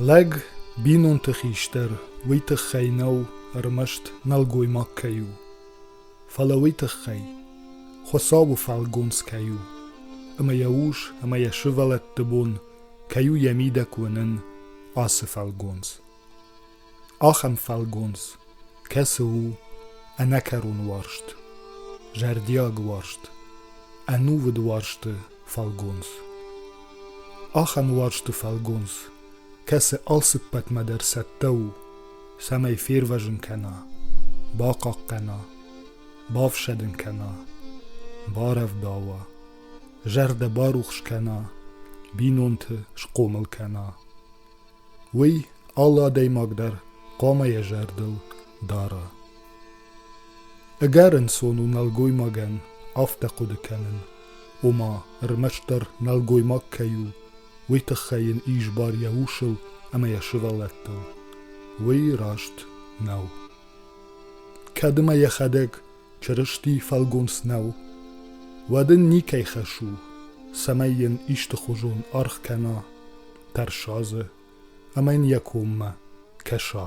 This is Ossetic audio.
Лӕг бинонты хистӕр уый тыххӕй нӕу ӕрмӕст нӕлгоймаг кӕй у, фӕлӕ уый тыххӕй Хуыцауы фӕлгонц кӕй у, ӕмӕ йӕ ус ӕмӕ йӕ сывӕллӕтты бон кӕй у йӕ мидӕг уынын ацы фӕлгонц. Ахӕм фӕлгонц, кӕцы у ӕнӕкӕрон уарзт, зӕрдиаг уарзт, ӕнувыд уарзты фӕлгонц. Ахӕм уарзты фӕлгонц, кӕцы алцыппӕтмӕ дӕр цӕттӕ у, цӕмӕй фервӕзын кӕна, бахъахъхъӕна, бафсӕдын кӕна, барӕвдауа, зӕрдӕ барухс кӕна, бинонты схъомыл кӕна. Уый алы адӕймаг дӕр хъуамӕ йӕ зӕрдыл дара. Ӕгӕр ӕнцон у нӕлгоймагӕн афтӕ хъуыды кӕнын, ома ӕрмӕстдӕр нӕлгоймаг кӕй у, уый тыххӕй йын ис бар йӕ усыл ӕмӕ йӕ сывӕллӕттыл. Уый раст нӕу. Кӕд ӕмӕ йӕхӕдӕг Чырысти фӕлгонц нӕу. Уӕд ын никӕй хӕс у, цӕмӕй йын истыхуызон аргъ кӕна, тӕрса дзы ӕмӕ йын йӕ коммӕ кӕса.